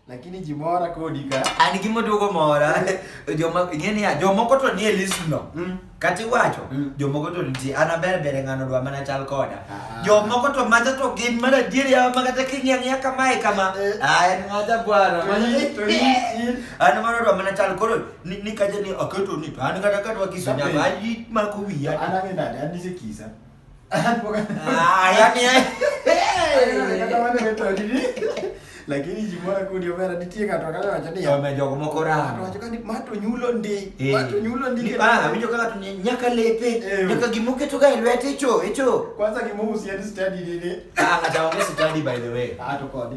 Lakini jimora kodi ka. An gimo duogo mora. Joma ing'e ni jomoko to nie list no. Mm. Kati wacho mm. jomoko to nitie an aber bere ng'ano dwa mana chal koda. Ah. Jomoko to maja to gin mana dier ya ma kata king'e ng'e kamae kama. Eh. Ah en ng'ata bwana. An mano dwa mana chal koro ni, ni kaje ni aketo ni an kata kata kiso nyama ayi ma kuwiya. An ang'e nade an ni kisa. Ah, yani eh. lakini jimora ku ndio mera nitie ka to kala wacha ni yome jogo moko ra to wacha ni mato nyulo ndi eh. mato nyulo ndi ah winjo kaka tunya nyaka lepe eh. nyaka gimoke to ga lwete cho echo kwanza gimohusiani study nini ah ngata wangu study by the way ah to kodi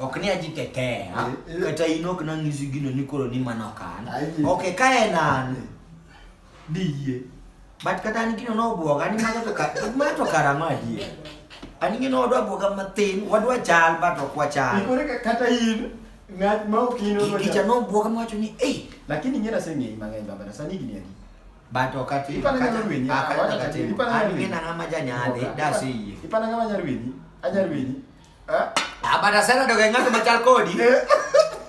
ok ni ajitetea kata in ok nang'isi gino ni koro ni mano ok an ok ka en an diyie but kata an gino nobwoga ni mago to mago to karang'o adier an gino wadwa bwoga matin wadwa chal but ok wachal kata in ng'at ma ok in kicha nobwoga mawacho ni ei lakini ing'e naseng'eyi mang'eny baba na sani gini adi but ok ati ipana ng'ama rwenyi ipana ng'ama rwenyi ipana ng'ama janyadhi dasi iye ipana ng'ama nyarwenyi anyarwenyi Eh? Abada ah, sana doga ngat machal kodi. Eh?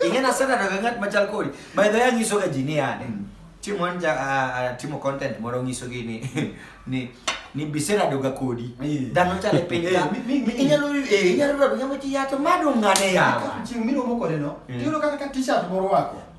Ingena sana doga ngat machal kodi. By the way nyiso ga jini yani. Hmm. Timo anja ah, timo content moro nyiso gini ni ni bisera doga kodi. Dano chale piny ka. Inyalo eh inyalo doga ngat yato madu ngane yawa. Chimino moko leno. Tiro kaka t-shirt moro wako.